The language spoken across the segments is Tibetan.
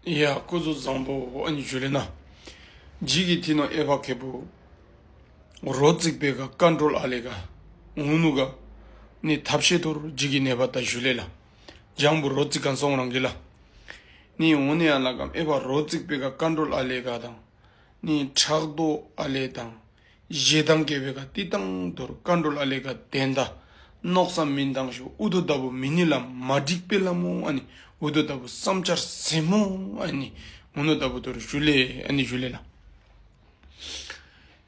ཡ། སྐུ་གཟུགས་བཟང་པོ་ཨ་ཉི་ཇུ་ལེ་ན། འཇིགས་ཀྱི་ཐིག་ནོར་ཨེ་བྷ་གྷེ་པུ། རོ་བརྩིགས་པའི་ག་བཀའ་འགྲོལ་ཨ་ལེ་ག། ངུ་ནུ་ག། ནི་ཐབས་ཤེས་དོར་འཇིགས་ཀྱི་ནད་པ་ད་ཞུ་ལེ་ལ། ལྗང་བུ་རོ་བརྩིགས་གང་སོང་རང་གི་ལ། ནི་འོ་ནེ་ཨ་ལ་གམ་ཨེ་བྷ་རོ་བརྩིགས་པའི་ག་བཀའ་འགྲོལ་ཨ་ལེ་ག་དང། ནི་ཕྲག་དོག་ཨ་ལེ་དང། བཞེས་དང་དགེ་བའི་བཀའ་ཏི་དང་དུར་བཀའ་འགྲོ་ལ་ལས་ཀ་ལྡན་ད་ནོག་ས་མིན་དང་ཞོ་འུ་དོ་ལྟ་བུ་མི་ནི་ལ་མ་འགྲིག་དཔེ་ལ་མོ་ཨ་ནི་འུ་དོ་ལྟ་བུ་བསམ་འཆར་ཟེ་མོ་ཨ་ནི་ངོ་ནོ་ལྟ་བུ་དུར་ཞུ་ལས་ཨ་ནི་ཞུ་ལས་ལ་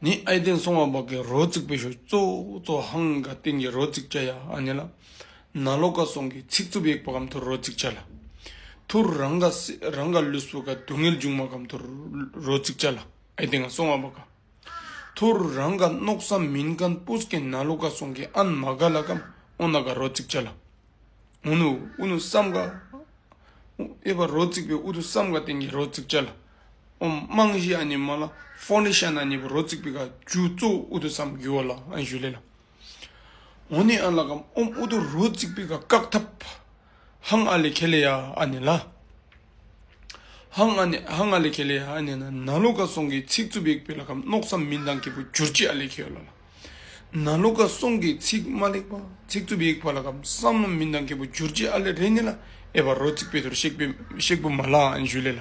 ནི་ཨའི་སྟེང་སོང་བ་བག་གི་རོ་བརྩིག་པའི་ཞོ་གཙོ་གཙོ་ཧང་ག་སྟེང་གི་རོ་བརྩིག་བྱ་ཡ་ཨ་ནི་ལ་ན་ལོ་ཀ་སོང་གི་ཚིག་རྩུབ་ཡེག་པ་གམ་དུར་རོ་བརྩིག་བྱ་ལ་དུར་རང་ག་སེ་རང་ག་ལུས་སུ་ག་སྡུག་བསྔལ་འབྱུང་མ་གམ་དུར་རོ་བརྩིག་བྱ་ལ་ཨའི་སྟེང་སོང་བ་བག་ག། ཐུར་རང་ག་ནོག་ས་མིན་གན་པུ་ས་གན་ན་ལོ་ག་སོང་གི་ཨན་མ་ག་ལ་གམ་ཨོ་ན་ག་རོ་ཙིག་ཅ་ལ་ཨོ་ནུ་ཨུ་ནུ་སམ་ག་ཨེ་པ་རོ་ཙིག་པའི་ཨུ་དུ་སམ་ག་དེང་གི་རོ་ཙིག་ཅ་ལ་ཨོ་མང་གཞི་ཨ་ནི་མ་ལ་ཧྥོ་ནི་ཤ་ན་ནི་པ་རོ་ཙིག་པི་ག་ཇུ་ཙོ་ཨུ་དུ་སམ་གུ་ཨོ་ལ་ཨན་ཞུ་ལེ་ལ་ཨོ་ནི་ཨན་ལ་གམ་ཨོམ་ཨུ་དུ་རོ་ཙིག་པི་ག་ཀག་ཐབ། ཧང་ཨ་ལི་ཁེ་ལེ་ཡ་ཨ་ནེ་ལཱ། ཧང་ཨ་ནེ་ཧང་ཨ་ལི་ཁེ་ལེ་ཡ་ཨ་ནེ་ན་ན་ལོ་ཀ་སོང་གི་ཚིག་རྩུབ་ཡིག་བོད་ལ་ཁམས་མནོག་སམ་མི་འདང་ཁེ་པོ་གྱུར་ཅི་ཨ་ལི་ཁེའོ་ལ་ལ། ན་ལོ་ཀ་སོང་གི་ཚིག་མ་ལེགས་པ་ཚིག་རྩུབ་ཡིག་བ་ལ་ཁམས་སམ་མི་འདང་ཁེ་པོ་གྱུར་ཅི་ཨ་ལི་རེ་ནི་ལ་ཨེ་བ་རོ་ཚིག་བེ་དོར་ཤེག་བུ་མ་ལ་ཨན་ཞུ་ལེ་ལ།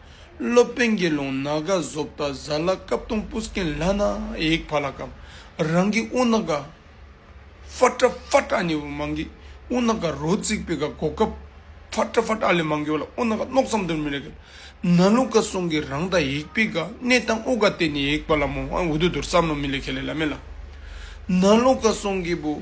སློབ་དཔོན་དགེ་སློང་ན་ག་བཟོ་བལྟ་བཟའ་ལ་སྐབས་སྟོང་སྤུ་སྐན་ལྷ་ན་ཡིག་བྷ་ལ་ཀམ་རང་གི་དབུ་ན་ག་བྷ་ཏྲ་བྷ་ཏྲ་ཨ་ནི་བུ་མང་གི་དབུ་ན་ག་རོ་བརྩིགས་པའི་ག་གོ་སྐབས་བྷ་ཏྲ་བྷ་ཏྲ་ཨ་ལས་མང་གི་བྷ་ལ་དབུ་ན་ག་མནོག་ཙམ་དུ་མི་རེ་གི་ན་ལུག་ག་སོང་གི་རང་དང་ཡིག་པའི་ག་གནས་དང་དབུ་ག་སྟེ་ནི་ཡིག་བྷ་ལ་མོ་ཧན་འུ་དུ་དུར་བསམ་ལོ་མི་ལས་ཁེ་ལས་ལ་མེ་ལ་ན་ལུག་ག་སོང་གི་བུ།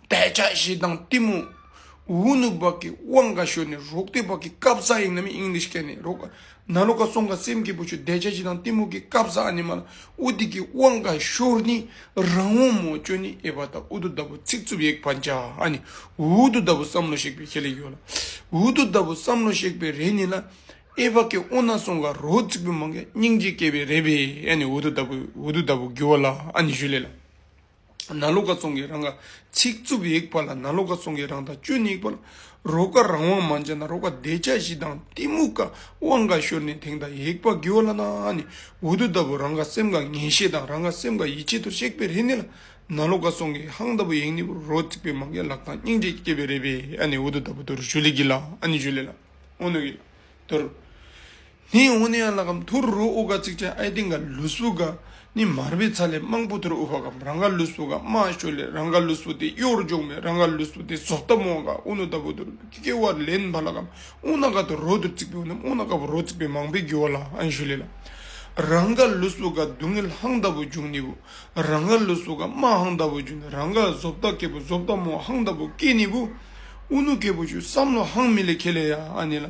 དད་ཆ་བཞི་དང་གཏི་མུག། འུ་ནུ་བག་གི་དབང་ག་ཞོན་ནས་རོག་སྟེ་བག་གི་སྐབས་བཟའ་ཡིན་ནམ་ཡིན་ལིས་སྐད་ནས་རོག། ན་ལོ་ག་སོང་ག་སེམས་སྐྱིད་པོ་བྱོས་དད་ཆ་བཞི་དང་གཏི་མུག་གི་སྐབས་བཟའ་ཨ་ནི་མ་ལ་འུ་དེ་གི་དབང་ག་ཞོར་ནི་རང་འོ་མོ་སྐྱོ་ནི་ཨེ་བ་ད་འུ་དུ་ད་བུ་ཚིག་རྩུབ་ཡེག་བ་འཇ་ཨ་ནི་འུ་དུ་ད་བུ་བསམ་བློ་གཤེགས་པའི་ཁེ་ལས་ཡོད་ལ་འུ་དུ་ད་བུ་བསམ་བློ་གཤེགས་པའི་རེ་ནི་ལ་ཨེ་བ་ཀེ་འོ་ན་སོང་ག་རོ་ཚིག་པོ་མང་ག་སྙིང་རྗེ་སྐྱེས་པའི་རེ་བས་ཨ་ནི་འུ་དུ་ད་བུ་འུ་དུ་ད་བུ་གུ་བ་ལ་ཨ་ནི་ཞུ་ལེ་ལ། ན་ལོ་ཀ་བཙོང་གི་རང་ག་ཚིག་རྩུབ་ཡིག་པ་ལ་ན་ལོ་ཀ་བཙོང་གི་རང་དང་བཅུ་ནི་ཡིག་པ་ལ། རོ་ཀ་རང་དབང་མ་འཇལ་ན་རོ་ཀ་བདེ་ཆ་བཞི་དང་གཏི་མུག་ཀ་དབང་འགའ་ཤོར་ནས་དེང་དང་ཡིག་པ་དགེ་བ་ལ་ན་ནི་འུ་དུ་ལྟ་བུ་རང་ག་སེམས་ག་ངེས་ཤེས་དང་རང་ག་སེམས་ག་ཡིད་ཆེས་དུ་གཤེགས་པའི་རིས་ནི་ལ་ན་ལོ་ཀ་བཙོང་གི་ཧང་ལྟ་བུ་ཡིག་ནི་བུ་རོ་རྩིག་པའི་མ་འགའི་ལག་དང་སྙིང་རྗེ་སྐྱེས་པའི་རེས་པས་ཨ་ནི་འུ་དུ་ལྟ་བུ་དུ་རུ་ཞུ་ལེགས་ཀྱི་ལ་ཨ་ནི་ཞུ་ལེགས་ལ་ཨོ་ནུ་ཀྱི་ལ་དུ་རུ། ནི་ཨུ་ནི་ཨ་ལ་གམ་ཐུར་རུ་ཨུ་ག་ཚིག་ཆེན་ཨའི་སྟེང་ག་ལུ་སུ་ག་ནི་མར་བའི་ཚ་ལས་དམངས་བུ་ཐུར་ཨུ་བྷ་གམ་རང་ག་ལུ་སུ་ག་དམའ་ཤོས་ལས་རང་ག་ལུ་སུ་སྟེ་གཡོར་འཇོག་མའི་རང་ག་ལུ་སུ་སྟེ་ཟོག་རྟ་མོ་ག་ཨུ་ནུ་ད་བུ་ཐུར་ཀི་ཀེ་བར་ལེན་བྷ་ལ་གམ་ཨུ་ན་ག་ཐུར་རོ་ཐུར་ཚིག་པའི་ཨུ་ནམ་ཨུ་ན་ག་བུ་རོ་ཚིག་པའི་མང་པའི་རྒྱུ་བ་ལ་ཨན་ཤུ་ལེ་ལ། རང་ག་ལུ་སུ་ག་སྡུག་བསྔལ་ཧང་ད་བུ་འཇུག་ནི་བུ། རང་ག་ལུ་སུ་ག་དམའ་ཧང་ད་བུ་འཇུག་ནི་རང་ག་ཟོབ་རྟ་ཀེ་བུ་ཟོབ་རྟ་མོ་ཧང་ད་བུ་ཀེ་ནི་བུ། ཨུ་ནུ་ཀེ་བུ་ཤུ་བསམ་ལོ་ཧང་མི་ལེ་ཁེ་ལེ་ཡ་ཨ་ནི་ལ།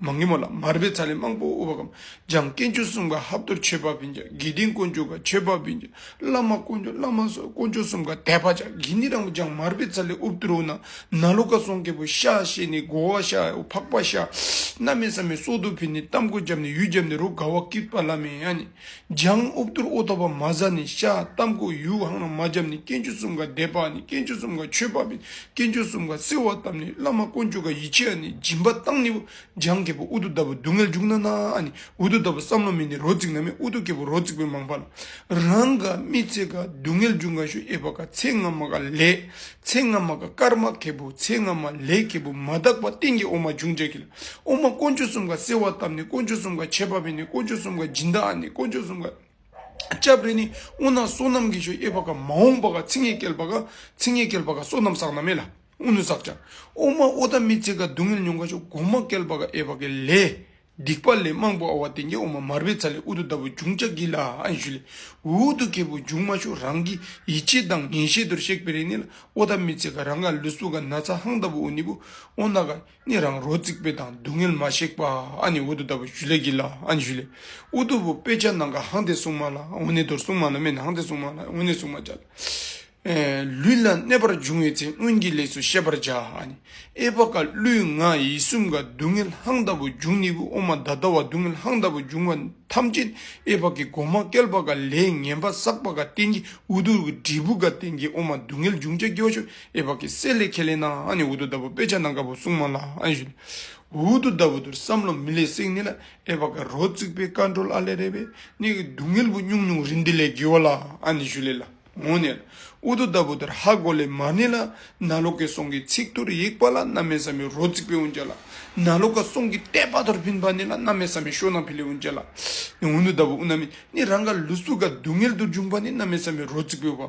མ་ངེས་མོ་ལ་མར་པའི་ཚ་ལས་དམངས་པོ་དབུ་བ་གམ་འཇམ་སྐད་མཆོག་གསུམ་ག་ཧབ་དོར་ཆོས་འཕགས་བིན་ཅག་དགེ་ལྡན་དཀོན་མཆོག་ག་ཆོས་འཕགས་བིན་ཅག་བླ་མ་དཀོན་མཆོག་བླ་མ་སོགས་དཀོན་མཆོག་གསུམ་ག་དད་པ་ཅག་གིས་ནི་རང་བུ་ཅག་མར་པའི་ཚ་ལས་དབུབ་དོར་བོ་ན་ན་ལོ་ཀ་སོང་སྐད་པོ་ཤ་ཤེས་ནས་སྒོ་བ་ཤ་འོ་ཕག་པ་ཤ། མནའ་མས་ས་མས་སྲོག་ཏུ་ཕུལ་ནས་གཏམ་ཀུན་བརྒྱབ་ནས་ཡུལ་བརྒྱབ་ནས་རོ་དགའ་བ་ཀིར་པ་བླ་མས་ཡང་ནི། འཇང་དབུབ་གཏོར་ཨུ་ཐུག་པ་མ་བཟའ་ནི་བཤའ་གཏམ་བཀོད་ཡུལ་ཧང་ན་མ་བརྒྱབ་ནི་སྐྱེ་འཇུ་གསུམ་ཀ་འདས་པ་ནི་སྐྱེ་འཇུ་གསུམ་ཀ་ཆོས་འབབ་པའི་སྐྱེ་འཇུ་གསུམ་ཀ་བསིལ་བ་བཏབ་ནི་བླ་མ་དཀོན་མཆོག་ག་ཡི་ཆེ་ཨ་ནི་སྦྱིན་པ་བཏང་ནི་བུ་འཇང་རྒྱལ་པོ་ཨུ་ཐུག་ལྟ་བུ་སྡུག་བསྔལ་འཇུག་ན་ན་ཨ་ནི་འུ་ཐུག་ལྟ་བུ་བསམ་བློ་མེད་ནི་རོ་བརྩིག་ན་མེད་ཨུ་ཐུག་རྒྱལ་པོ་རོ་བརྩིག་པའི་མང་པ་ལ་རང་ག་རྨིས་ཚེ་ག་སྡུག་བསྔལ་འཇུག་ང་ཤོ་ཨེ་བ་ག་ཚེ་སྔ་མ་ག་ལས་ཚེ་སྔ་མ་ག་སྐར་མ་གད་བུ་ཚེ་སྔ་མ་ལས་གད་བུ་མ་དག་པ་སྟེང་གི་ཨོ་མ་འབྱུང་བྱ་གི་ལ་དབུ་མ་དཀོན་མཆོག་གསུམ་ཀ་གསལ་བར་བཏབ་ནས་དཀོན་མཆོག་གསུམ་ཀ་ཁྱད་པར་བས་ནི་དཀོན་མཆོག་གསུམ་ཀ་སྦྱིན་བདག་ནི་དཀོན་མཆོག་གསུམ་ཀ་སྐྱབས་རེ་ནི་དབུ་ནག་བསོད་ནམས་ཀྱི་ཆོས་དབྱེ་བ་ཀ་མ་འོངས་པ་ཀ་ཚིག་ངན་བསྐལ་པ་ཀ་ཚིག་ངན་བསྐལ་པ་ཀ་བསོད་ནམས་བསགས་ན་མེད་ལ་དབུ་ནུ་བསགས་ཀྱང་དབུ་མ་ཨོ་ད་མི་ཚེ་ཀ་སྡུག་བསྔལ་མྱོང་ཁ་ཕྱོགས་གོང་མ་བསྐལ་པ་ཀ་དབྱེ་བ་ཀའི་ལས། སྡིག་པ་ལས་མང་པོ་ཨ་བ་དན་གྱི་དབུ་མ་མར་པའི་ཚ་ལས་ཨུ་དུ་ད་བུ་འབྱུང་བྱ་གྱིས་ལ་ཨན་ཞུ་ལས་འུ་དུ་ཁའི་བུ་འབྱུང་མ་ཞུ་རང་གི་ཡིད་ཆེས་དང་ངན་ཤེས་དུར་གཤེགས་པའི་རེ་ནི་ལ་ཨོ་ད་མི་ཚེ་ཀ་རང་ཀ་ལུས་སུ་ཀ་ན་ཚ་ཧང་ད་བུ་ཨུ་ནི་བུ་ཨོ་ན་ཀ། ནི་རང་རོ་རྩིག་པའི་དང་སྡུག་བསྔལ་མ་གཤེགས་པ་ཨ་ནི་འོད་དུ་ལྟ་བུ་ཞུ་ལས་ཀྱི་ལ་ཨ་ནི་ཞུ་ལས་ཨུ་ལྟོ་བུ་དཔེ་ཆ་ནང་ག་ཧང་དེ་སྲུང་མ་ལ་འོ་ནི་དོར་སྲུང་མ་ལ་མེ་ནང་དེ་སྲུང་མ་ལ་འོ་ནི་སྲུང་མ་བྱ། ལུས་ལ་གནས་པར་འབྱུང་བའི་ཚེ་སྔོན་གྱི་ལས་སུ་ཤེས་པར་བྱ་ཨ་ནི་ཨེ་བ་ཀ་ཀླུའི་ང་ཡི་གསུམ་ཀ་སྡུག་བསྔལ་ཧང་ལྟ་བུ་འབྱུང་ནི་བུ་ཨོ་མ་ད་ལྟ་བ་སྡུག་བསྔལ་ཧང་ལྟ་བུ་འབྱུང་བ་ཐམས་ཅད་ནི་ཨེ་བ་ཀའི་གོ་མ་ཀལ་བ་ཀ་ལས་ངན་པ་བསགས་པ་ཀ་རྟེན་གྱི་ཨུ་ལྟོ་བུ་དྲིལ་བུ་ཀ་རྟེན་གྱི་ཨོ་མ་སྡུག་བསྔལ་འབྱུང་བྱ་སྐྱེ་བ་ཤོ་ཨེ་བ་ཀི་སེ་ལེ་ཁེ་ལེ་ན་ཨ་ནི་འུ་དུ་ད་བུ་དཔེ་ཆ་ནང་དགའ་བོ་སྲུང་མ་ལ་ཨ་ཡི་ཞུ། འུ་དུ་ད་བུ་དུར་བསམ་བློ་མི་ལེགས་སེང་ནི་ལ་ཨེ་བ་ཀི་རོ་རྩིག་པའི་ཀ་འགྲོ་ལ་ལེ་རེ་བའི་ནི་གི་སྡུག་བསྔལ་བུ་སྙུང་སྙུང་རི་འདི་ལེ་དགི་བ་ལ་ཨ་ནི་ཞུ་ལེ་ལ་ངོ་ནི་ལ་འུ་དུ་ད་བུ་དུར་ཧ་གོ་ལེ་མ་ནི་ལ་ན་ལོ་ཀེ་སོང་གི་ཚིག་དུར་ཡིག་པ་ལ་ན་མེ་ས་མི་རོ་རྩིག་པའི་འུ་འཇ་ལ་ན་ལོ་ཀ་སོང་གི་ལྟད་པ་དུར་བིན་པ་ནི་ལ་ན་མེ་ས་མི་ཤོ་ན་བི་ལི་འུ་འཇ་ལ་ནི་འུ་དུ་ད་བུ་འུ་ན་མི་ནི་རང་ག་ལུ་སུ་ག་སྡུག་བསྔལ་དུར་འབྱུང་པ་ནི་ན་མེ་ས་མི་རོ་རྩིག་པའི་བ་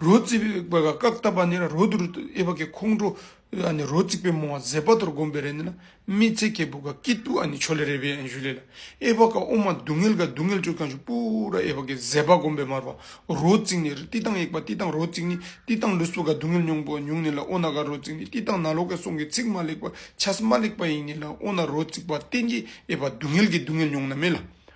རོ་རྩིག་པའི་བཀའ་བཏབ་པ་ནི་རོ་དུར་ཨེ་བ་ཀའི་ཁོང་ཁྲོ་རོ་རྩིག་པའི་མོ་བ་ཟད་པ་དོར་བསྒོམ་པའི་རེ་ནི་ན་མི་ཚེ་གེ་བུ་ག་ཀི་ཏུ་ཆོ་ལེ་རེ་བའི་བཞུ་ལེ་ལ་ཨེ་བ་ཀ་ཨུ་མ་སྡུག་བསྔལ་ག་སྡུག་བསྔལ་སྤྱོད་གང་ཞིག་པུ་ར་ཨེ་བ་ཀའི་ཟད་པ་བསྒོམ་པའི་མར་བ་རོ་རྩིག་ནི་བསྟི་སྟང་ཡེག་པ་བསྟི་སྟང་རོ་རྩིག་ནི་བསྟི་སྟང་ལུས་སྲུ་ག་སྡུག་བསྔལ་མྱོང་པོ་ཉུང་ནི་ལ་ཨོ་ན་ག་རོ་རྩིག་ནི་བསྟི་སྟང་ན་ལོ་ཀའི་སོང་གི་ཚིག་མ་ལེགས་པ་ཆ་སི་མ་ལེགས་པ་ཡིན་ནི་ལ་ཨོ་ན་རོ་རྩིག་པ་བསྟེན་གི་ཨེ་བ་སྡུག་བསྔལ་གི་སྡུག་བསྔལ་མྱོང་ན་མེ་ལ